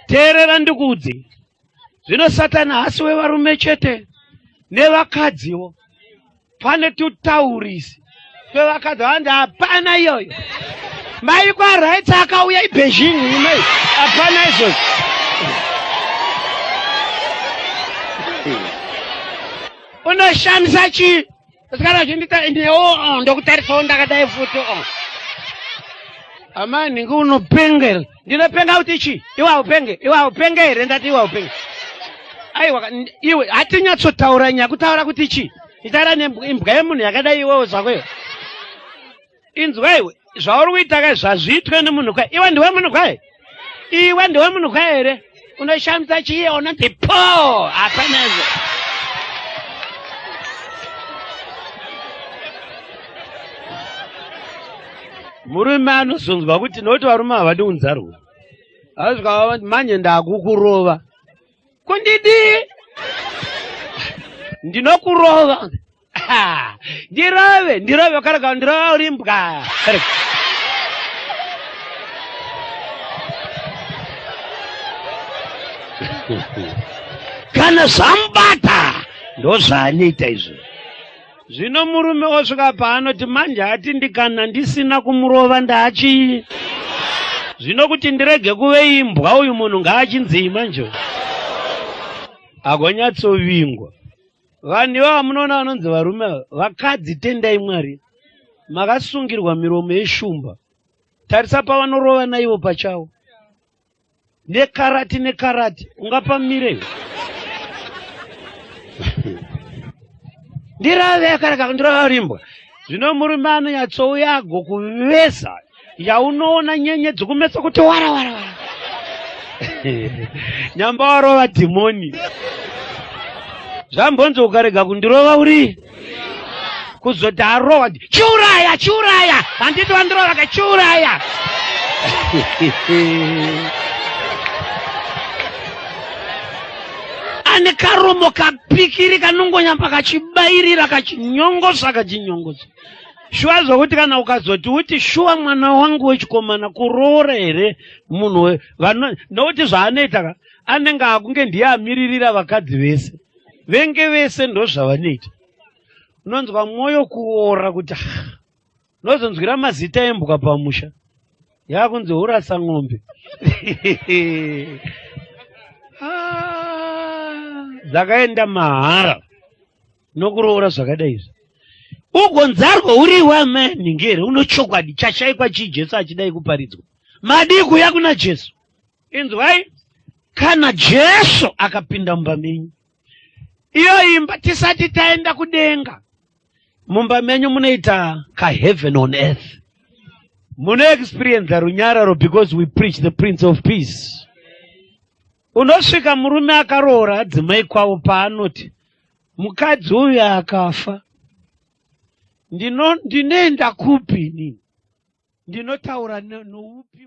teerera ndikuudze zvino satani haasi wevarume chete nevakadziwo pane tutaurisi twevakadzi vanzi hapana iyoyo mai kwarights akauya ibeijing imei hapana izvozvo unoshamisa chii Musikana achindita inewo oh, ndokutarisawo ndakadai futi o. Oh. Amai nhingi unopenga here? Ndinopenga kuti chii? Iwe haupenge, iwe haupenge here ndati iwe haupenge. Aiwa iwe hatinyatsotaura nyaya kutaura kuti chii? Itaura nembwa yemunhu yakadai iwewo zvako iyo. inzwaiwe zvauri kuita ka zvazviitwe nemunhu ka iwe ndiwe munhu ka here iwe ndiwe munhu ka here unoshamisa chiye unoti po hapanezvo murume anozonzwa kuti nokuti varume havadi unzarwo azvikavavati manje ndakukurova kundidii ndinokurova Ha, ndirove ndirove ukarega kundirova uri mbwa Karega. kana zvamubata ndozvaanoita izvo zvino murume osvika paanoti manje ati ndikana ndisina kumurova ndaachii zvino kuti ndirege kuve imbwa uyu munhu ngaachinzii manje agonyatsovingwa Vanhu ivava munoona vanonzi varume ava, vakadzi tendai Mwari, makasungirwa miromo yeshumba. Tarisa pavanorova naivo pachavo nekarati nekarati, ungapamire ndirave akaraka ndirava rimbwa zvino murume anonyatsouya agokuvesa yaunoona nyenyedzi kumeso kuti wara wara wara nyamba warova dhimoni zvambonzi ukarega kundirova uri kuzoti arowa chiuraya chiuraya handiti vandirova ka chiuraya ane karomo kapikiri kanongonyamba kachibairira kachinyongosa kachinyongosa shuwa zvokuti kana ukazoti uti shuwa mwana wangu wechikomana kuroora here munhu we vano nokuti zvaanoita ka anenge akunge ndiye amiririra vakadzi vese venge vese ndozvavanoita unonzwa mwoyo kuora kuti unozonzwira mazita embwa pamusha yakunzi urasa n'ombe ah, dzakaenda mahara nokuroora zvakadai izvi ugonzarwa uri iwe amani ngere uno chokwadi chashaikwa chii jesu achidai kuparidzwa madii kuya kuna jesu inzwai kana jesu akapinda mumba menyu iyo imba tisati taenda kudenga mumba menyu munoita kaheaven on earth munoexperienza runyararo because we preach the prince of peace Unosvika murume akaroora adzimai kwavo paanoti mukadzi uyu akafa ndinoenda kupi inini ndinotaura noupi